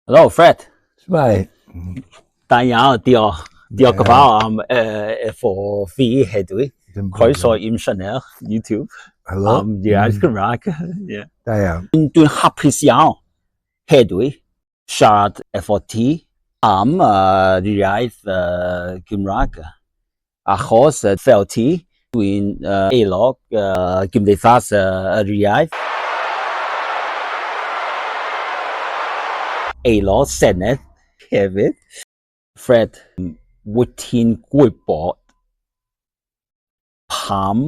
Helo, Fred. Smae. Da iawn, diolch. Diolch yn fawr am uh, efo fi hedwi. Croeso i'n sianel YouTube. Helo. Am iaith mm. Gymraeg. yeah. Da iawn. Dwi'n hapus iawn hedwi siarad efo ti am uh, iaith uh, Gymraeg. achos fel ti, dwi'n aelod o Gymdeithas yr Iaith, Aelod Senedd hefyd. Fred, wyt ti'n gwybod pam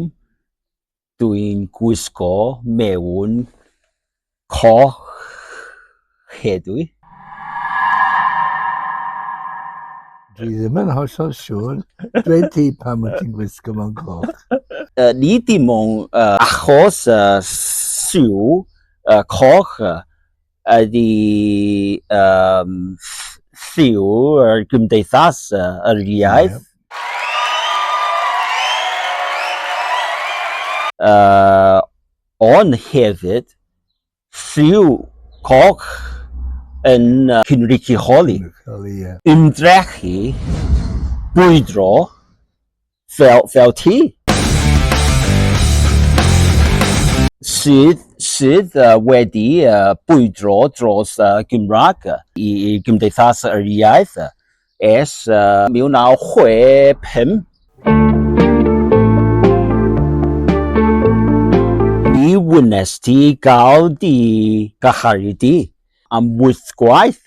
Dwi'n gwisgo mewn coch heddiw. Dwi ddim yn hollol siŵr. Dweud ti pam wyt ti'n gwisgo mewn coch. Uh, ni dim ond uh, achos uh, siw uh, coch uh, ydy um, lliw yr gymdeithas yr iaith. Uh, ond hefyd lliw coch yn uh, cynrychioli ymdrechu bwydro Fel, fel ti. Sydd, sydd uh, wedi uh, bwydro dros uh, Gymraeg uh, i, i Gymdeithas yr Iaith uh, es uh, 1965. Ni wnes ti gael di gacharu di. am wyth gwaith.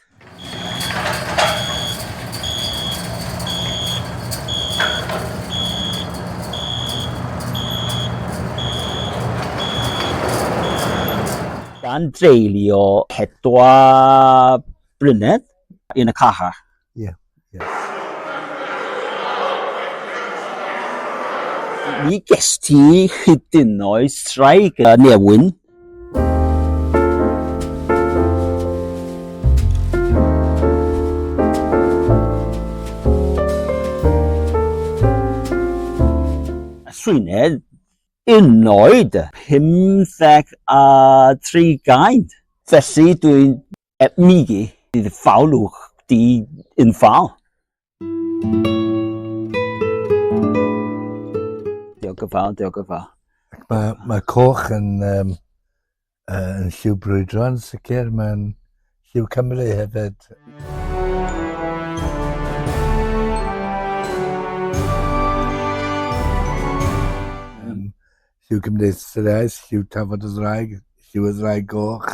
Gan dreulio pedwar blynedd yn y carchar. Ie, ie. Mi ges ti hyd yn oed straig y newyn. Swynedd yn oed 53 gaint. Felly dwi'n Migi, bydd y falwch du yn fal. Diolch yn fawr, diolch yn fawr. Mae, mae coch yn, um, uh, yn lliw brwydro yn sicr, mae'n lliw Cymru hefyd. Um, lliw Cymdeithas yr Iaith, lliw Tafod y Ddraig, lliw y Ddraig Goch,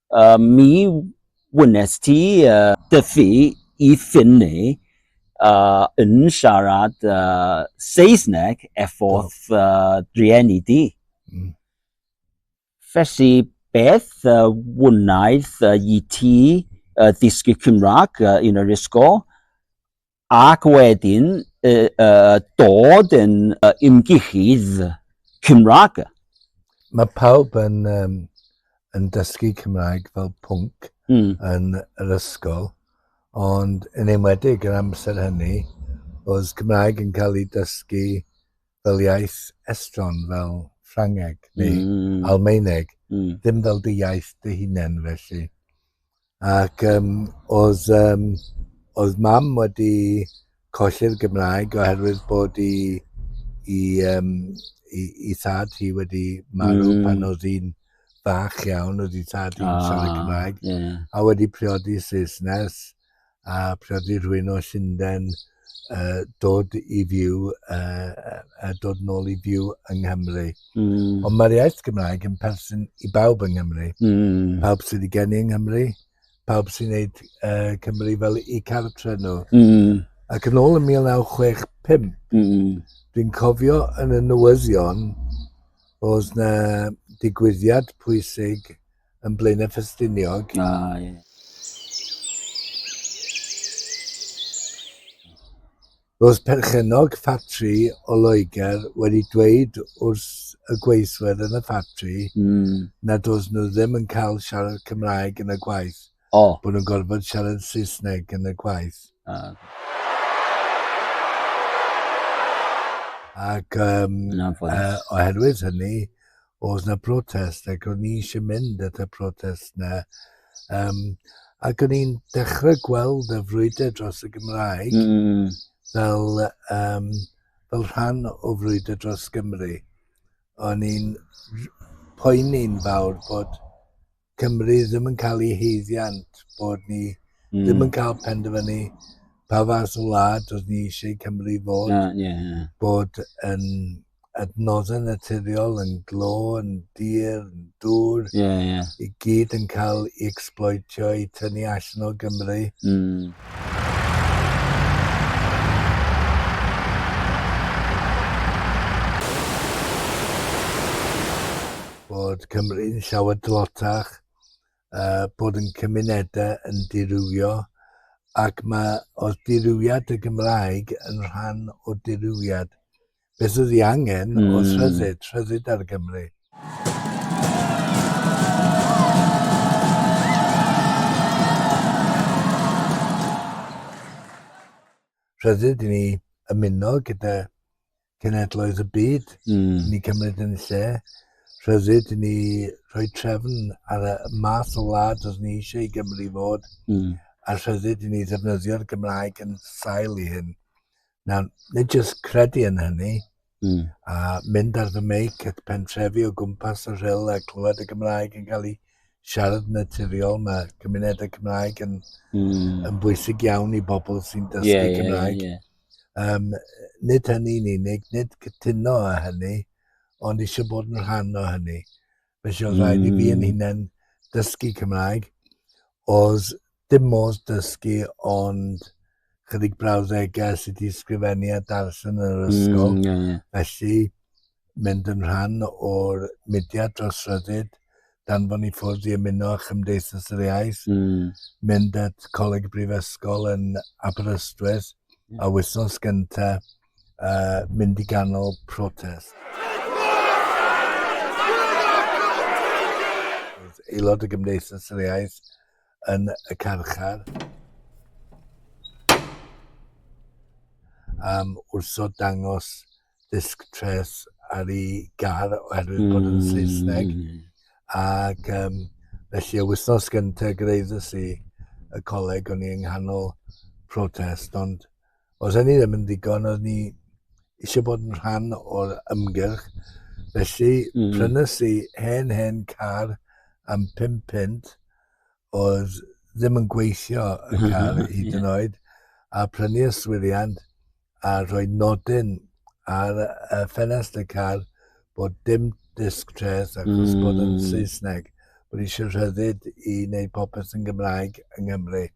Uh, mi wnes ti uh, dyfu i ffynnu uh, yn siarad uh, Saesneg efforth uh, drieni di. Mm. Felly, beth uh, wnaeth uh, i ti uh, ddysgu Cymraeg uh, yn yr ysgol? ac wedyn dod yn ymgeisydd Cymraeg. Mae pawb yn, um, yn dysgu Cymraeg fel pwnc mm. yn yr ysgol, ond yn enwedig yr amser hynny, oedd Cymraeg yn cael ei dysgu fel iaith estron, fel Ffrangeg neu mm. Almaeneg, mm. ddim fel dy iaith dy hunain felly. Ac um, oedd, um, oedd mam wedi colli'r Gymraeg oherwydd bod i, i, um, i, i thad hi wedi marw mm. pan oedd hi'n fach iawn, oedd i thad hi'n ah, siarad Cymraeg, yeah. a wedi priodi Saesnes, a priodi rhywun o Llundain, uh, dod i fyw, uh, uh, dod nôl i fyw yng Nghymru. Mm. Ond mae'r iaith Gymraeg yn perthyn i bawb yng Nghymru. Mm. Pawb sydd wedi geni yng Nghymru, pawb sy'n gwneud uh, Cymru fel i cartre nhw. Mm. Ac yn ôl yn 1965, mm. dwi'n cofio yn y newyddion, oedd na digwyddiad pwysig yn Blaenau Ffestiniog. A, ie. Roedd perchennog ffatri o Loegr wedi dweud wrth y gweithwyr yn y ffatri mm. nad oes nhw ddim yn cael siarad Cymraeg yn y gwaith. O! Bod nhw'n gorfod siarad Saesneg yn y gwaith. A. Ac um, uh, oherwydd hynny, oedd na protest ac o'n i eisiau mynd at y protest na. Um, ac o'n i'n dechrau gweld y frwydr dros y Gymraeg mm. fel, um, fel rhan o frwydr dros Gymru. O'n i'n poeni'n fawr bod Cymru ddim yn cael ei heiddiant bod ni mm. ddim yn cael penderfynu pa fath o wlad oedd ni eisiau Cymru fod, Na, yeah, yeah. bod yn adnoddau naturiol, yn glo, yn dir, yn dŵr, yeah, yeah. i gyd yn cael ei exploitio i tynnu allan o Gymru. Mm. bod Cymru'n llawer dlotach, uh, bod yn cymunedau yn dirywio, ac mae oedd dirywiad y Gymraeg yn rhan o dirywiad. Beth oedd ei angen mm. oedd hmm. rhyddid, rhyddid ar Gymru. Rhyddid i ni ymuno gyda cenedloedd y byd. Mm. Ni cymryd yn lle rhyddid ni rhoi trefn ar y math o wlad oedd ni eisiau i Gymru fod, mm. a rhyddid i ni ddefnyddio'r Gymraeg yn sail i hyn. Na, nid jyst credu yn hynny, mm. a mynd ar fy meic at pentrefi o gwmpas y rhyl a clywed y Gymraeg yn cael ei siarad yn naturiol, mae cymunedau Cymraeg yn, mm. yn bwysig iawn i bobl sy'n dysgu yeah, Cymraeg. Yeah, yeah. Yym, nid hynny'n unig, nid cytuno â hynny, ond eisiau bod yn rhan o hynny. Felly oedd mm. rhaid i fi yn hmm. hunain dysgu Cymraeg. Oedd dim modd dysgu ond chydig brawddegau sydd wedi sgrifennu a darllen yn yr hmm, ysgol. Mm, yeah, yeah. Felly, mynd yn rhan o'r mudiad dros ryddid, danfon i ffwrdd i ymuno â Chymdeithas yr Iaith, mm. mynd at Coleg Brifysgol yn Aberystwyth, mm. a wythnos gyntaf uh, mynd i ganol protest. Aelod y Gymdeithas yr Iaith yn y carchar. um, wrthod dangos ddisg tres ar ei gar oherwydd mm. bod yn Saesneg. Mm. Ac um, felly y wythnos gyntaf greiddes i y coleg o'n i yng nghanol protest, ond os ni ddim yn ddigon, oedd ni eisiau bod yn rhan o'r ymgyrch. Felly, mm. prynus i hen hen car am 5 pint, oedd ddim yn gweithio yn cael hyd yn oed, a prynu yswiriant a rhoi nodyn ar y ffenest y car bod dim disc tres achos mm. bod yn hmm. Saesneg, bod eisiau rhyddid i wneud popeth yn Gymraeg yng Nghymru.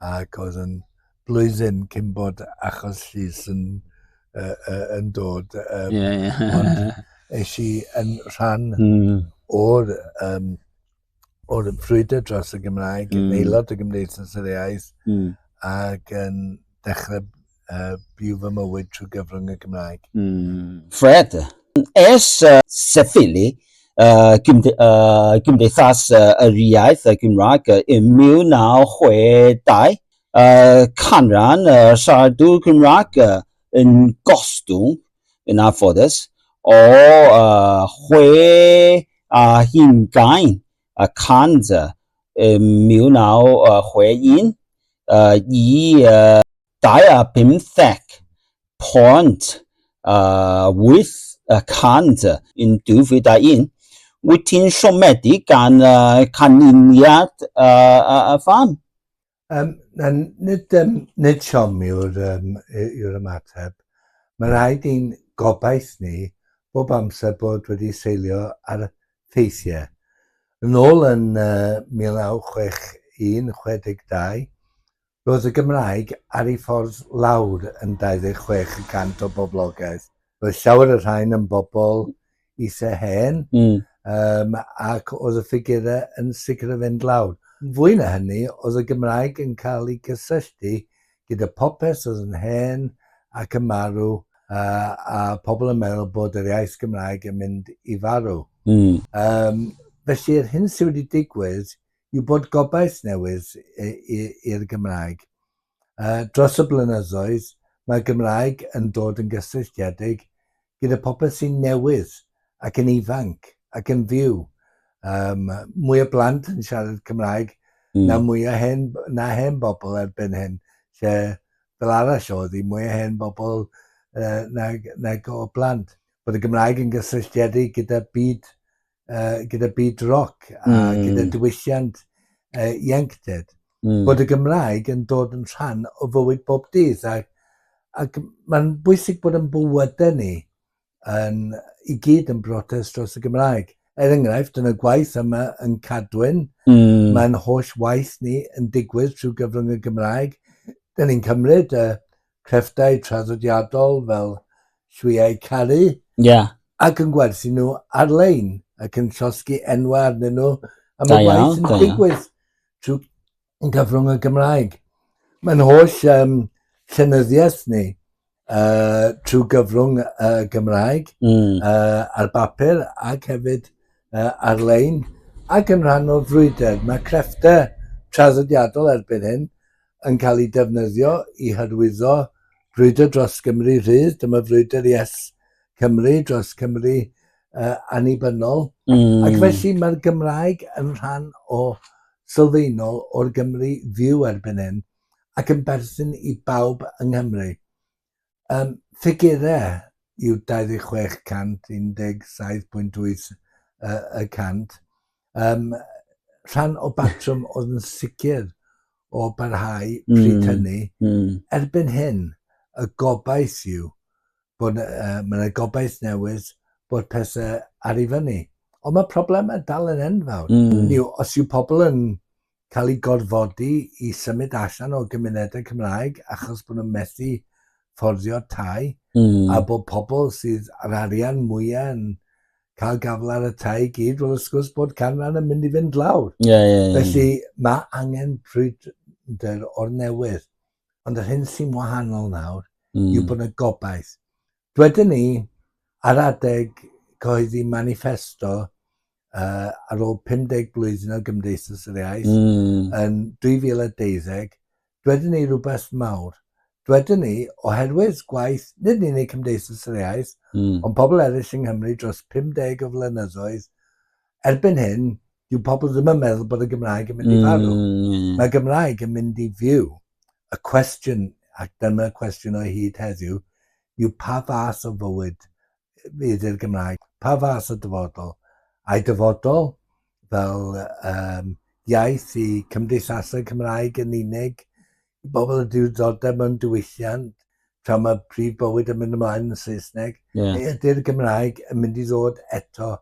Ac oedd yn blwyddyn cyn bod achos llys yn, uh, uh, yn dod. Um, yeah, yeah. ond eisiau yn rhan mm. o'r um, o'r ymffrwydr dros y Gymraeg, mm. yn aelod o Gymdeithas yr Iaith, mm. ac yn dechrau uh, byw fy mywyd trwy gyfrwng y Gymraeg. Mm. Fred, es uh, sefylu uh, gymde, uh, Gymdeithas uh, yr Iaith y Gymraeg uh, yn 1962, uh, canran y uh, siaradwr Gymraeg uh, yn gostwng yn anffodus, o chwe a hugain y cant ym 1961 i dau a bymtheg pwynt wyth y cant yn 2001. Wyt ti'n siomedig gan y Canlyniad a pham? Um, na, nid, um, nid siom yw'r um, yw ymateb. Mae rhaid i'n gobaith ni bob amser bod wedi seilio ar ffeithiau. Yn ôl yn uh, 1961, 62, roedd y Gymraeg ar ei ffordd lawr yn 26 y cant o boblogaeth Roedd llawer y rhain yn bobl eitha hen, mm. um, ac oedd y ffigurau yn sicr y fynd lawr. Fwy na hynny, oedd y Gymraeg yn cael ei gysylltu gyda popeth oedd yn hen ac yn marw, a, a pobl yn meddwl bod yr iaith Gymraeg yn mynd i farw. Mm. Um, felly, yr hyn sydd wedi digwydd yw bod gobaith newydd i'r Gymraeg. Dros y blynyddoedd, mae'r Gymraeg yn dod yn gysylltiedig gyda phobl sy'n newydd ac yn ifanc ac yn fyw. Yym, mwy o blant yn siarad Cymraeg na mwy o hen, na hen bobl erbyn hyn, lle fel arall oedd hi, mwy o hen bobl yy nag nag o blant. Bod y Gymraeg yn gysylltiedig gyda byd uh, gyda byd roc a mm. gyda diwylliant uh, ieuenctid, mm. bod y Gymraeg yn dod yn rhan o fywyd bob dydd. Ac, ac mae'n bwysig bod yn bywydau ni yn, i gyd yn brotest dros y Gymraeg. Er enghraifft, yn y gwaith yma yn Cadwyn, mm. mae'n holl waith ni yn digwydd trwy gyfrwng y Gymraeg. Dyna ni'n cymryd y crefftau traddodiadol fel Llwyau Caru Ie. ac yn gwerthu nhw ar-lein ac yn llosgi enwau arnyn nhw a mae gwaith yn digwydd trwy yn gyfrwng y Gymraeg. Mae'n holl um, llenyddiaeth ni uh, trwy gyfrwng y uh, Gymraeg mm. uh, ar bapur ac hefyd uh, ar-lein ac yn rhan o'r frwydr. Mae crefftau traddodiadol erbyn hyn yn cael eu defnyddio i hyrwyddo brwydr dros Gymru rhydd, dyma frwydr Yes Cymru dros Cymru uh, annibynnol. Mm. Ac felly mae'r Gymraeg yn rhan o sylfaenol o'r Gymru fyw erbyn hyn ac yn berthyn i bawb yng Nghymru. Yym, ffigurau yw 26 cant, 17.8 y, y cant. Um, rhan o batrwm oedd yn sicr o barhau mm, pryd hynny. Mm. Erbyn hyn, y gobaith yw bod uh, mae yna gobaith newydd bod pethau ar ei fyny. Ond mae problemau dal yn enfawr. Mm. Ni, os yw pobl yn cael eu gorfodi i symud allan o gymunedau Cymraeg achos bod nhw'n methu fforddio tai, mm. a bod pobl sydd ar arian mwyaf yn cael gafel ar y tai i gyd, wel wrth gwrs bod canran yn mynd i fynd lawr. Yeah, yeah, yeah. Felly mae angen prwydr o'r newydd. Ond yr hyn sy'n wahanol nawr mm. yw bod yna gobaith. Dwedyn ni, ar adeg cyhoeddi manifesto uh, ar ôl 50 blwyddyn o Gymdeithas yr Iaith mm. yn 2012, dwedyn ni rhywbeth mawr. Dwedyn ni, oherwydd gwaith nid yn unig Cymdeithas yr Iaith, mm. ond pobl eraill yng Nghymru dros 50 o flynyddoedd, erbyn hyn, dyw pobl ddim yn meddwl bod y Gymraeg yn mynd i mm. farw. Mm. Mae Gymraeg yn mynd i fyw. Y cwestiwn, ac dyma cwestiwn o'i hyd heddiw, yw pa fath o fywyd fydd i'r Gymraeg, pa fath o dyfodol, a'i dyfodol fel um, iaith i cymdeithasau Cymraeg yn unig, i bobl y diwyddoldeb mewn diwylliant, tra mae prif bywyd yn mynd ymlaen yn Saesneg, yeah. neu ydy'r Gymraeg yn mynd i ddod eto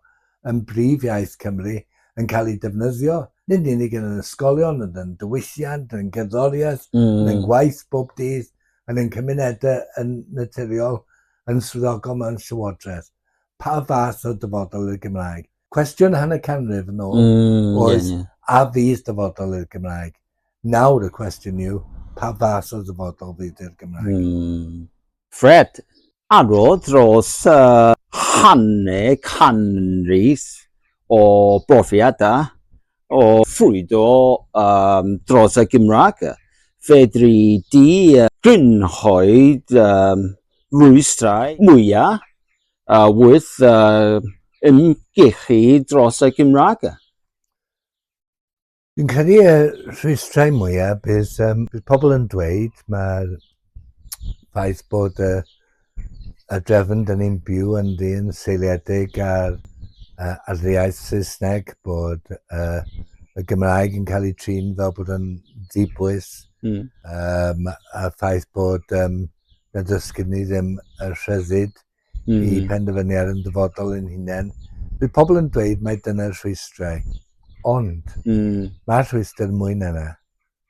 yn brif iaith Cymru yn cael ei defnyddio, nid unig yn yr ysgolion, yn yn diwylliant, yn gyddoriaeth, mm. yn gwaith bob dydd, yn yn cymunedau yn naturiol, yn swyddogol mewn llywodraeth, pa fath o dyfodol i'r Gymraeg? Cwestiwn hanner canrif yn ôl mm, oedd, yeah, yeah. a fydd dyfodol i'r Gymraeg? Nawr y cwestiwn yw, pa fath o ddyfodol fydd i'r Gymraeg? Mm. Fred, ar ôl dros uh, hanner canrif o brofiadau o fwyd o um, drosau Gymraeg. Fedri di uh, grynhoi um, rwystrau mwyaf uh, wyth uh, ymgechu drosau Gymraeg. Fi'n credu y rhwystrau mwyaf bydd, um, bydd pobl yn dweud mae ffaith bod y, y drefn dyn ni'n byw yn ddyn seiliedig ar uh, adriaeth Saesneg, bod uh, y Gymraeg yn cael ei trin fel bod yn ddibwys, mm. um, a ffaith bod um, na dysgyd ni ddim y rhyddid mm. i hmm. penderfynu ar yn dyfodol yn hunain. Bydd pobl yn dweud mae dyna'r rhwystrau, ond mm. mae'r rhwystrau mwy na yna.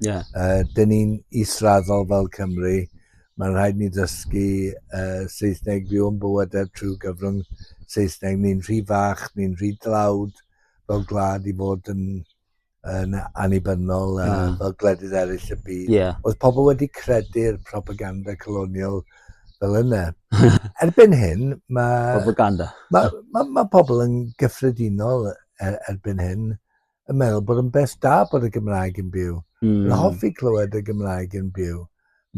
Yeah. Uh, dyn ni'n israddol fel Cymru, mae'n rhaid ni ddysgu uh, Saesneg byw yn bywydau trwy gyfrwng Saesneg. Ni'n rhy fach, ni'n rhy dlawd fel gwlad i fod yn, yn annibynnol uh, mm. fel gwledydd eraill y byd. Yeah. Oedd pobl wedi credu'r propaganda colonial fel yna. erbyn hyn, mae... Propaganda. Mae ma, ma pobl yn gyffredinol er, erbyn hyn yn meddwl bod yn beth da bod y Gymraeg yn byw. Mm. Yn hoffi clywed y Gymraeg yn byw.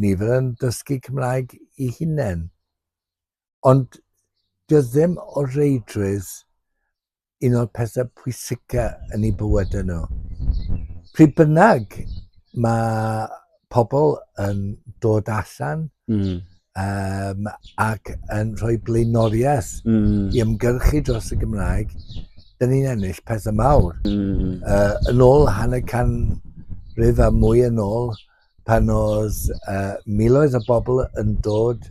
Ni fydd yn dysgu Cymraeg i hunain. Ond dio ddim o reidrwydd un o'r pethau pwysica yn ei bywydau nhw. Pryd bynnag mae pobl yn dod allan mm. um, ac yn rhoi blaenoriaeth mm. i ymgyrchu dros y Gymraeg, dyn ni'n ennill pethau mawr. Mm. Uh, yn ôl hanner can rhydd a mwy yn ôl, pan oedd uh, miloedd o bobl yn dod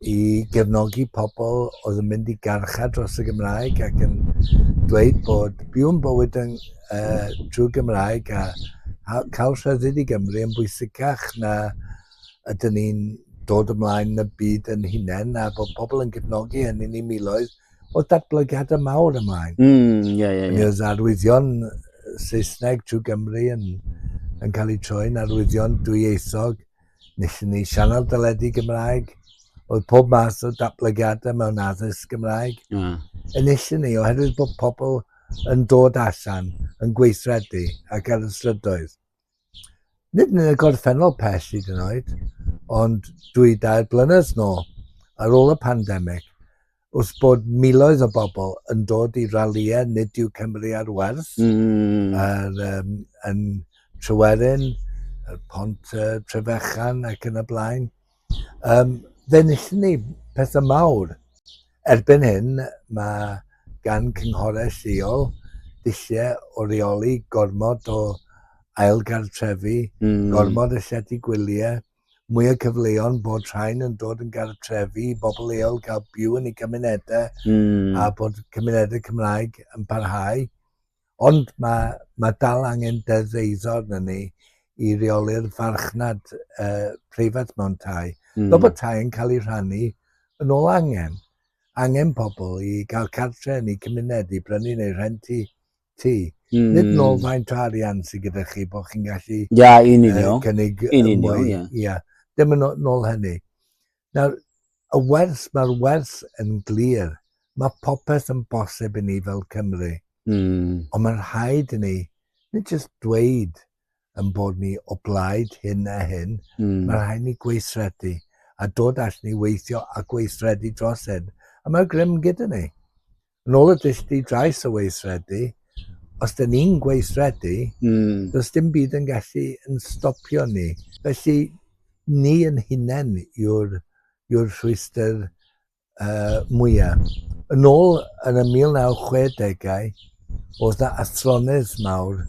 i gefnogi pobl oedd yn mynd i garchar dros y Gymraeg ac yn dweud bod byw'n bywyd yn, uh, trwy Gymraeg a cael rhyddid i Gymru yn bwysicach na ydyn ni'n dod ymlaen yn y byd yn hunain a bod pobl yn gefnogi hynny ni miloedd o datblygiadau mawr ymlaen. Mm, yeah, yeah, yeah. Oedd arwyddion Saesneg trwy Gymru yn, yn cael eu troi'n arwyddion dwyieithog Wnaethon ni sianel dyledu Gymraeg. Oedd pob math o datblygiadau mewn addysg Gymraeg. Mm. Enillon ni, oherwydd bod pobl yn dod allan, yn gweithredu ac ar y strydoedd. Nid yn y gorffennol pell hyd yn oed, ond dwy dair blynedd nôl, ar ôl y pandemig, wrth bod miloedd o bobl yn dod i ralïau Nid yw Cymru ar Werth, mm. ar, um, yn Tryweryn, y pont uh, Trefechan ac yn y blaen. Um, fe nillyn ni pethau mawr. Erbyn hyn, mae gan cynghorau lleol dulliau o reoli gormod o ailgartrefu, mm. gormod o llety gwyliau, mwy o cyfleon bod rhain yn dod yn gartrefi i bobl leol cael byw yn eu cymunedau mm. a bod cymunedau Cymraeg yn parhau. Ond mae, mae dal angen deddfeiddor arnyn ni i reoli'r farchnad uh, preifat mewn tai. Mm. Fel bod tai yn cael ei rhannu yn ôl angen. Angen pobl i gael cartre yn eu cymuned, i brynu neu rhentu ti. Mm. Nid yn ôl faint o arian sydd gyda chi bod chi'n gallu Ia, yn union. Uh, cynnig yn union, ia. Ia. Dim yn ôl hynny. Nawr, y wers, mae'r wers yn glir. Mae popeth yn bosib i ni fel Cymru. Mm. Ond mae'n rhaid i ni, nid jyst dweud, yn bod ni o blaid hyn a hyn, mm. mae rhaid ni gweithredu a dod all ni weithio a gweithredu dros hyn. A mae'r grym gyda ni. Yn ôl y dysgu drais o weithredu, os dyn ni'n gweithredu, mm. does dim byd yn gallu yn stopio ni. Felly, ni yn hunain yw'r yw rhwystr uh, mwyaf. Yn ôl yn y 1960au, oedd na athronydd mawr,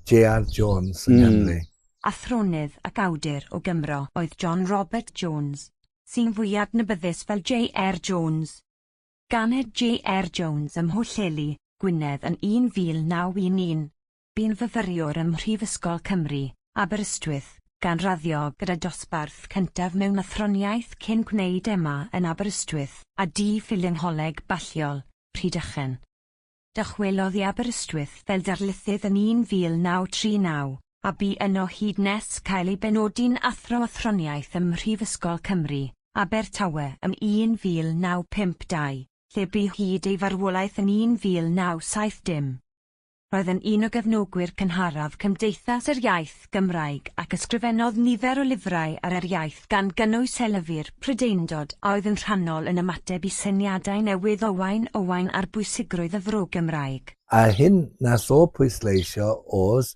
J.R. Jones, yng hmm. Nghymru. Mm. Athronydd ac awdur o Gymro oedd John Robert Jones, sy'n fwy adnabyddus fel J.R. Jones. Ganed J.R. Jones ym Mhwllheli, Gwynedd yn 1911. Bu'n fyfyriwr ym Mhrifysgol Cymru, Aberystwyth, gan raddio gyda dosbarth cyntaf mewn athroniaeth cyn gwneud ema yn Aberystwyth a du Filiengholeg Balliol, Rhydychen. Dychwelodd i Aberystwyth fel darlithydd yn 1939 a bu yno hyd nes cael ei benodi'n Athro Athroniaeth ym Mhrifysgol Cymru, Abertawe yn 1952, lle bu hyd ei farwolaeth yn 1970. Roedd yn un o gefnogwyr cynharaf Cymdeithas yr Iaith Gymraeg ac ysgrifennodd nifer o lyfrau ar yr iaith gan gynnwys Helyfu'r Prydeindod a oedd yn rhannol yn ymateb i syniadau newydd Owain Owain ar bwysigrwydd y fro Gymraeg. A hyn nes o'r pwysleisio oes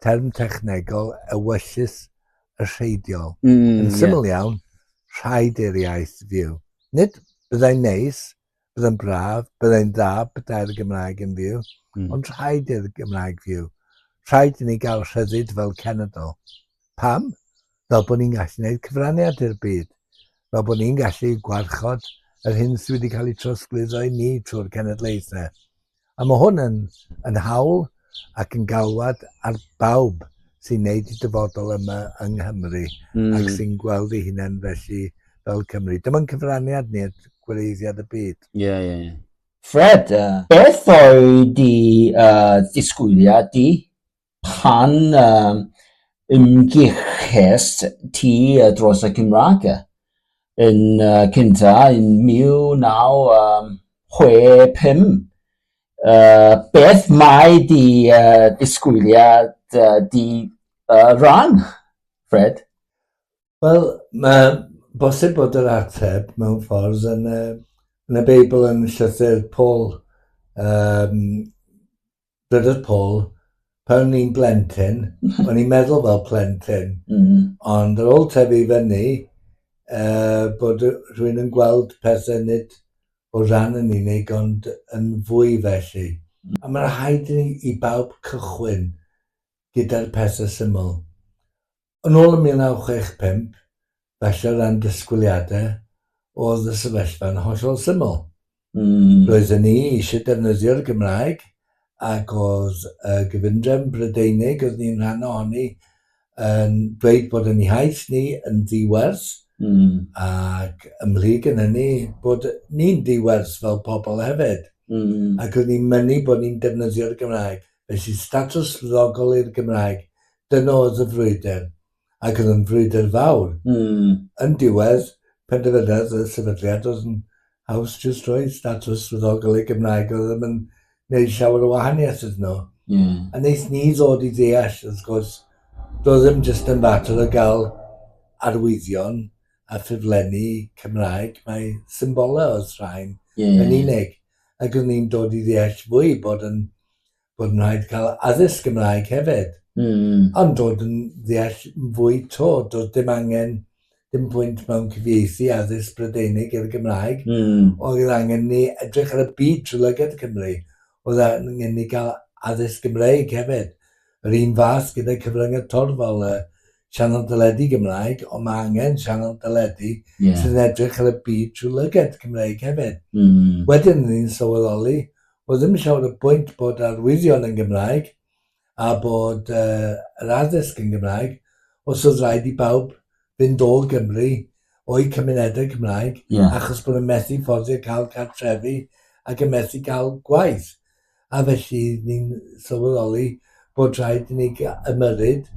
term technegol ewyllys y rheidiol. Yn syml iawn, rhaid i'r iaith fyw. Nid byddai'n neis bydd yn braf, bydd e'n dda, bydau'r y Gymraeg yn fyw, mm. ond rhaid i'r Gymraeg fyw. Rhaid i ni gael rhyddid fel cenedl. Pam? Fel bod ni'n gallu gwneud cyfraniad i'r byd. Fel bod ni'n gallu gwarchod yr hyn sydd wedi cael ei trosglwyddo i ni trwy'r cenedlaethau. A mae hwn yn, yn hawl ac yn galwad ar bawb sy'n neud y dyfodol yma yng Nghymru mm. ac sy'n gweld ei hunain felly fel Cymru. Dyma'n cyfraniad ni at gwreiddiad y byd. Ie, yeah, ie, yeah, ie. Yeah. Fred, uh, beth oedd di uh, disgwyliad di pan uh, ymgyrches ti uh, dros y Cymraeg yn uh, cynta yn 1965. Uh, beth mae di uh, disgwyliad uh, di uh, ran, Fred? Wel, mae bosib bod yr ateb mewn ffordd yn y, yn y Beibl yn llythyr Paul um, Brydydd Paul, pan o'n i'n blentyn, o'n i'n meddwl fel plentyn, mm. ond ar ôl tefu i fyny, uh, bod rhywun yn gweld pethau nid o ran yn unig, ond yn fwy felly. Mm. A mae'n rhaid i, i bawb cychwyn gyda'r pethau syml. Yn ôl y 1965, falle o ran disgwyliadau, oedd y sefyllfa'n hollol syml. Mm. Roedden ni eisiau defnyddio'r Gymraeg, ac oedd y gyfundrefn Brydeinig oedd ni'n rhan ohoni yn dweud bod yn iaith ni yn ddiwerth, mm. ac ymhlyg gen hynny bod ni'n ddiwerth fel pobl hefyd. Mm. Ac oedd ni'n mynnu bod ni'n defnyddio'r Gymraeg. Felly statws swyddogol i'r Gymraeg dyna oedd y frwydr, ac oedd yn frwydr fawr. Mm. Yn diwedd, penderfynodd y sefydliad oedd yn haws jyst rhoi statws swyddogol ei Gymraeg oedd ddim yn gwneud llawer o wahaniaeth iddyn nhw. Yeah. A wnaeth ni ddod i ddeall, wrth gwrs, doedd ddim jyst yn fater o gael arwyddion a ffurflenni Cymraeg, mae symbolau oedd rhain yeah. yn unig. Ac oeddwn ni'n dod i ddeall fwy bod yn bod yn rhaid cael addysg Gymraeg hefyd. Mm. Ond dod yn ddeall yn fwy to, doedd dim angen, dim pwynt mewn cyfieithu addysg Brydeinig i'r Gymraeg, mm. oedd angen ni edrych ar y byd trwy lygad y Cymru, oedd angen ni gael addysg Gymraeg hefyd. Yr un fath gyda cyfryngau torfol, y sianel dyledu Gymraeg, ond mae angen sianel dyledu yeah. sydd yn edrych ar y byd trwy lygad Cymraeg hefyd. Mm. Wedyn ni'n sylweddoli, Oedd ddim yn llawer o bwynt bod arwyddion yn Gymraeg a bod uh, yr addysg yn Gymraeg os oedd rhaid i bawb fynd o Gymru o'i cymunedau Cymraeg yeah. achos bod yn methu fforddio cael cartrefi ac yn methu cael gwaith. A felly ni'n sylweddoli bod rhaid i ni ymyrryd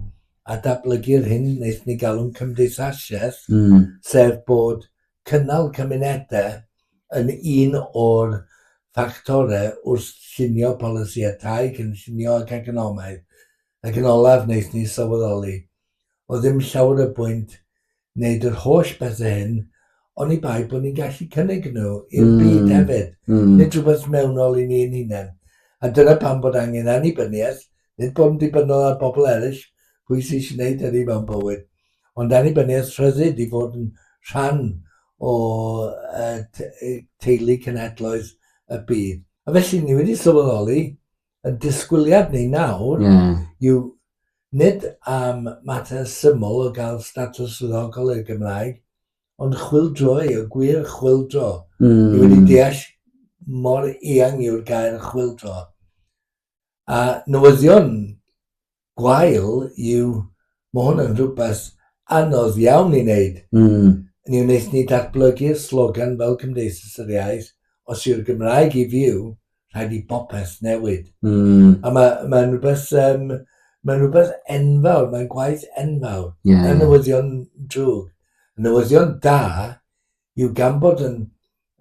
a datblygu'r hyn wnaeth ni galw'n cymdeithasiaeth, mm. sef bod Cynnal cymunedau yn un o'r ffactorau wrth llunio polisïau tai, cynllunio ac economaidd, ac yn olaf wnaethon ni sylweddoli, oedd ddim llawer o bwynt wneud yr holl bethau hyn oni bai bod ni'n gallu cynnig nhw i'r byd hefyd, nid rhywbeth mewnol i ni ein hunain. A dyna pam bod angen annibyniaeth, Nid bod yn dibynnol ar bobl eraill pwy sydd eisiau gwneud hynny mewn bywyd, ond annibynu at rhyddid i fod yn rhan o teulu cenhedloedd y byd. A felly ni wedi sylweddoli yn disgwyliad ni nawr yeah. yw nid am mater syml o gael statws swyddogol i'r Gymraeg, ond chwildroi, y gwir chwildro. Mm. Ni wedi deall mor eang yw'r gair chwildro. A newyddion gwael yw, mae hwn yn rhywbeth anodd iawn i wneud. Mm. Ni wnaeth ni datblygu'r slogan fel Cymdeithas yr Iaith, os yw'r Gymraeg i fyw, rhaid i bopeth newid. Mm. A mae'n ma rhywbeth, um, mae rhywbeth enfawr, mae'n gwaith enfawr, yeah, yeah. newyddion drwg. Newyddion da yw gan bod yn,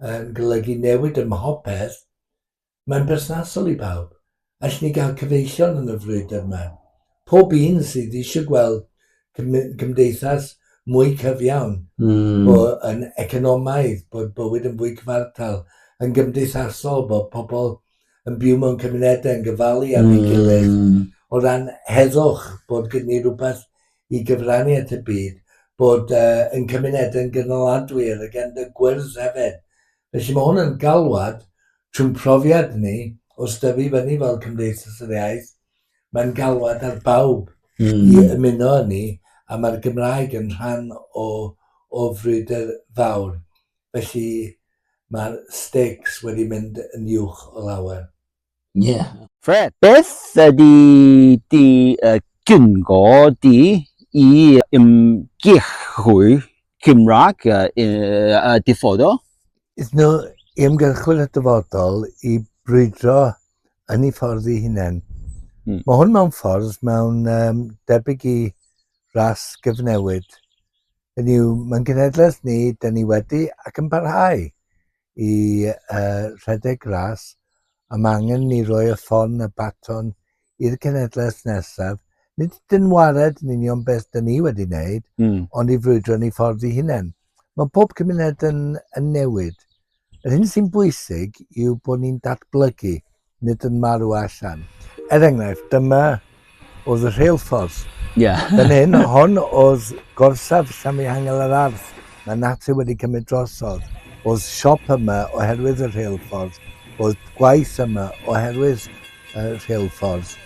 yn golygu newid ym mhopeth, Mae'n berthnasol i bawb. Allen ni gael cyfeillion yn y frwydr yma. Pob un sydd eisiau gweld cymdeithas mwy cyfiawn, mm. bod yn economaidd, bod bywyd yn fwy cyfartal, yn gymdeithasol, bod pobl yn byw mewn cymunedau yn gyfalu ar ei mm. gilydd. O ran heddwch, bod gyda ni rhywbeth i gyfrannu at y byd, bod uh, yn cymunedau yn gynaladwy ar agenda gwyrdd hefyd, Felly mae hwn yn galwad trwy'n profiad ni wrth dyfu fyny fel Cymdeithas yr Iaith, mae'n galwad ar bawb mm. i ymuno â ni a mae'r Gymraeg yn rhan o, o frwydr fawr. Felly mae'r stakes wedi mynd yn uwch o lawer. Ie. Fred. Beth ydy dy gyngor di i ymgyrchwyr Cymraeg y dyfodol? Is nhw i ymgyrchwyr y dyfodol i brwydro yn eu ffordd eu hunain. Mm. Mae hwn mewn ffordd mewn um, debyg i ras gyfnewid. Yn yw, mae'n genedlaeth ni, da ni wedi ac yn parhau i yy rhedeg ras a ma' angen ni roi y ffon y baton i'r cenedlaeth nesaf nid dyn wared yn union beth dyn ni wedi wneud mm. ond i frwydro ni ffordd i hunain. Mae pob cymuned yn, yn newid. Yr hyn sy'n bwysig yw bod ni'n datblygu nid yn marw allan. Er enghraifft, dyma oedd y rheilffordd. Yeah. Fan hyn, hon oedd gorsaf Llanfihangel yr Arth. Mae natur wedi cymryd drosodd. Oedd siop yma oherwydd y rheilffordd. Oedd gwaith yma oherwydd y rheilffordd.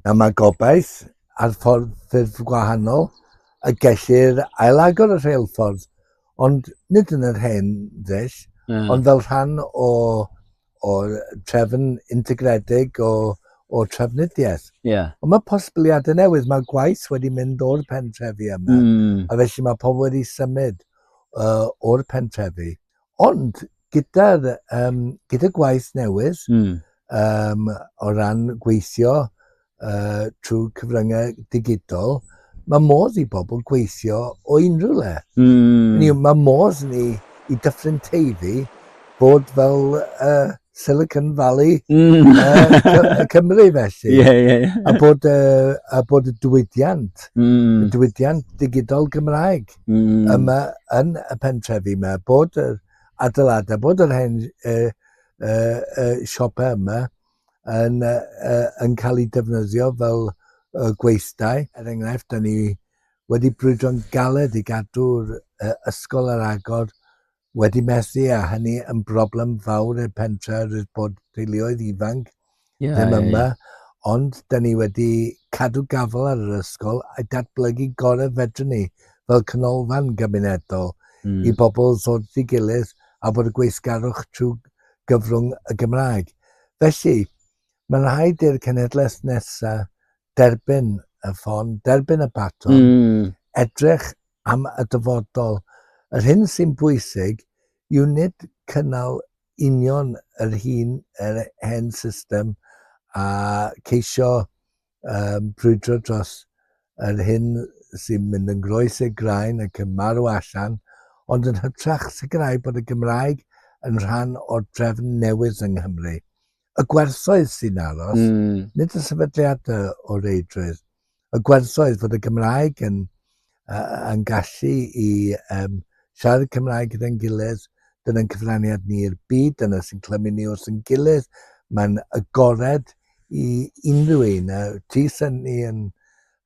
Na mae gobaith ar ffordd ffyrdd gwahanol y gellir ailagor y rheilffordd, ond nid yn yr hen ddull, yeah. ond fel rhan o o'r trefn integredig o, o trafnidiaeth. Yeah. Ond mae posibiliadau newydd, mae gwaith wedi mynd o'r pentrefi yma, mm. a felly mae pobl wedi symud uh, o'r pentrefi. Ond gyda, um, gyda gwaith newydd, mm. um, o ran gweithio, uh, trwy cyfryngau digidol, mae modd i bobl gweithio o unrhyw le. Mm. mae modd ni i dyffryn teifi bod fel uh, Silicon Valley mm. uh, Cymru felly. Yeah, yeah, yeah. A, bod, uh, a bod y diwydiant, mm. y diwydiant digidol Gymraeg mm. yma yn y pentrefi yma, bod yr adeiladau, bod yr hen uh, uh, uh, siopau yma, yn, uh, yn cael eu defnyddio fel uh, gweithdai. Er enghraifft, da ni wedi brwydro'n galed i gadw'r uh, ysgol ar agor wedi methu a hynny yn broblem fawr i'r pentre yr bod teuluoedd ifanc yeah, ddim yma. Yeah, yeah. Ond da ni wedi cadw gafel ar yr ysgol a datblygu gorau fedrwn ni fel canolfan gymunedol mm. i bobl ddod i gilydd a bod y gweithgarwch trwy, gyfrwng y Gymraeg. Felly, mae'n rhaid i'r cenedlaeth nesaf derbyn y ffon, derbyn y baton, mm. edrych am y dyfodol. Yr hyn sy'n bwysig yw nid cynnal union yr hun, yr hen system, a ceisio um, brwydro dros yr hyn sy'n mynd yn groes ei graen ac yn marw allan, ond yn hytrach sicrhau bod y Gymraeg yn rhan o'r drefn newydd yng Nghymru. Y gwerthoedd sy'n aros, mm. nid y sefydliadau o reidrwydd. Y gwerthoedd fod y Gymraeg yn a'n gallu i um, siarad Cymraeg gyda'n gilydd, dyna'n cyfraniad ni i'r byd, dyna sy'n clymu ni wrth yn gilydd. Mae'n agored i unrhyw un, a ti sy'n ni yn,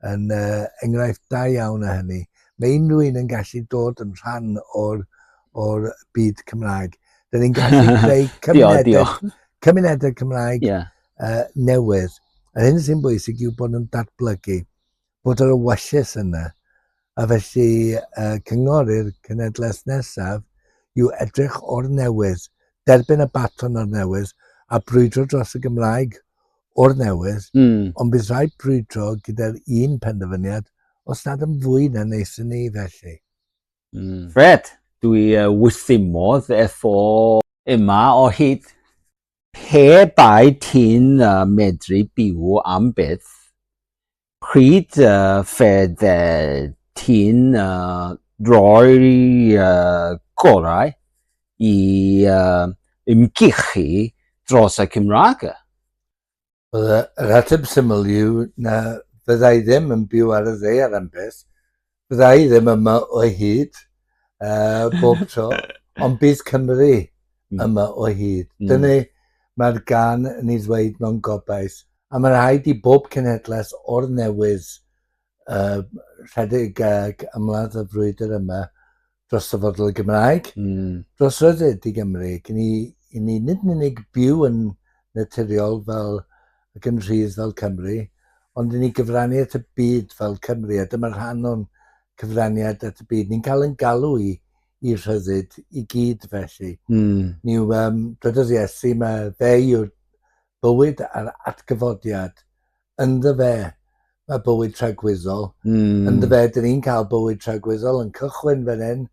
yn uh, enghraifft da iawn o hynny. Mae unrhyw un yn gallu dod yn rhan o'r, or byd Cymraeg. Dyna ni'n gallu creu cymunedau, cymunedau Cymraeg yeah. uh, newydd. Yr hyn sy'n bwysig yw bod yn datblygu. bod yr ewyllys yna, a felly y cyngor i'r cenedlaeth nesaf yw edrych o'r newydd, derbyn y baton o'r newydd, a brwydro dros y Gymraeg o'r newydd, mm. ond bydd rhaid brwydro gyda'r un penderfyniad os nad yn fwy na wnaethon ni felly. Mm. Fred, dwi uh, wrth ei modd efo yma o hyd Pe bai ti'n medru byw am byth, pryd fydde ti'n rhoi'r gorau i ymgyrchu dros y Cymraeg? Wel, yr ateb syml yw na fyddai ddim yn byw ar y ddear am beth. Fyddai ddim yma o hyd uh, bob tro, ond bydd Cymru hmm. yma o hyd. Mm. Dyna mae'r gan yn ei ddweud mewn gobaith. A mae'n rhaid i bob cenhedlaeth o'r newydd uh, rhedeg ag ymladd y frwydr yma dros ddyfodol y Gymraeg, mm. dros ryddid i Gymru, i ni, i ni nid yn unig byw yn naturiol fel ac yn rhydd fel Cymru, ond i ni gyfrannu at y byd fel Cymru, a dyma rhan o'n cyfraniad at y byd. Ni'n cael yn galw i, i rhyddid i gyd felly. Mm. Ni yw um, dwedodd Iesu, mae fe yw'r bywyd a'r atgyfodiad ynddo fe, mae bywyd tragwyddol. Mm. Ynddo fe, dyn ni'n cael bywyd tragwyddol yn cychwyn fan hyn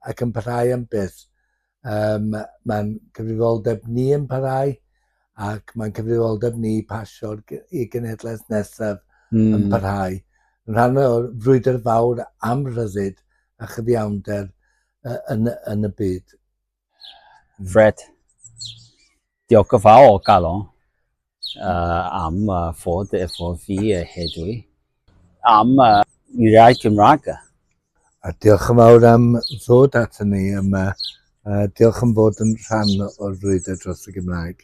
ac yn parhau am byth. Um, mae'n cyfrifoldeb ni yn parhau ac mae'n cyfrifoldeb ni pasio i genedlaeth nesaf mm. yn parhau. Yn rhan o'r frwydr fawr am rhyddid a chyfiawnder yn, yn y byd. Fred, diolch yn fawr o galon uh, am uh, fod efo fi hedwi, am uh, iriau Cymraeg. A diolch yn fawr am ddod ato ni yma. Uh, diolch yn fod yn rhan o'r frwydr dros y Gymraeg.